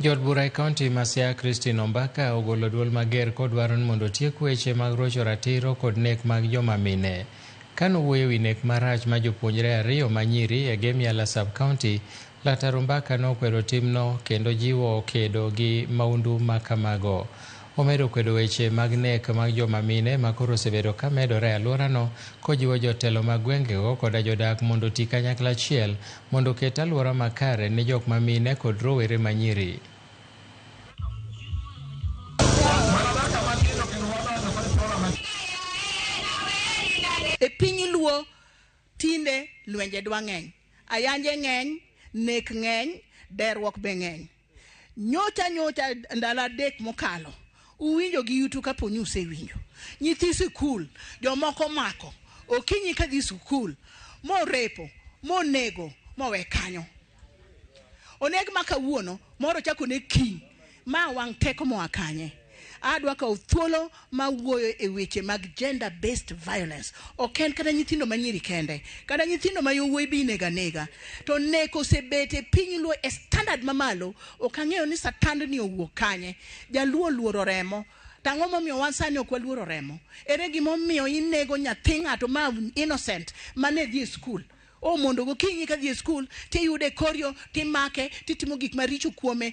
Jood bura e kaunti ma Siaya Christine Ombaka ogolo duol mager kodwaro ni mondo otiek weche mag rocho ratiro kod nek mag joma mine. Ka nowuoyo e wi nek marach ma jopuonjre ariyo ma nyiri e Gemiala Sub-County, Laktar Ombaka nokwedo timno kendo jiwo kedo gi maundu ma kamago. Omedo kwedo weche mag nek mag joma mine ma koro osebedo ka medore e alworano, kojiwo jotelo mag gwengego koda jodak mondo oti kanyakla achiel mondo oket alwora makare ne jok ma mine kod rowere ma nyiri. E piny luo tinde lwenje dwa ng'eny, ayanje ng'eny, nek ng'eny, deruok be ng'eny. Nyocha nyocha ndalo adek mokalo uwinjo gi yutu kapo ni usewinjo nyithi sikul jomoko mako okinyi ka dhi sikul morepo monego mowe kanyo oneg ma kawuono moro chako ne kiny ma wang' teko moa kanye Adwa kawo thuolo ma wuoyo e weche mag gender based violence. Ok en kata nyithindo ma nyiri kende, kata nyithindo ma yowuoyi be inego anega. To neko osebet e piny Luo e standard mamalo, ok ang'eyo ni satandni owuok kanye. Jaluo oluoro remo, to ang'o momiyo wan sani ok waluoro remo? Ere gima omiyo inego nyathi ng'ato ma innocent ma ne dhi e skul? Oh mondo gokinyi ka dhi e skul, tiyude e kor yo, timake, titimo gik maricho kuome.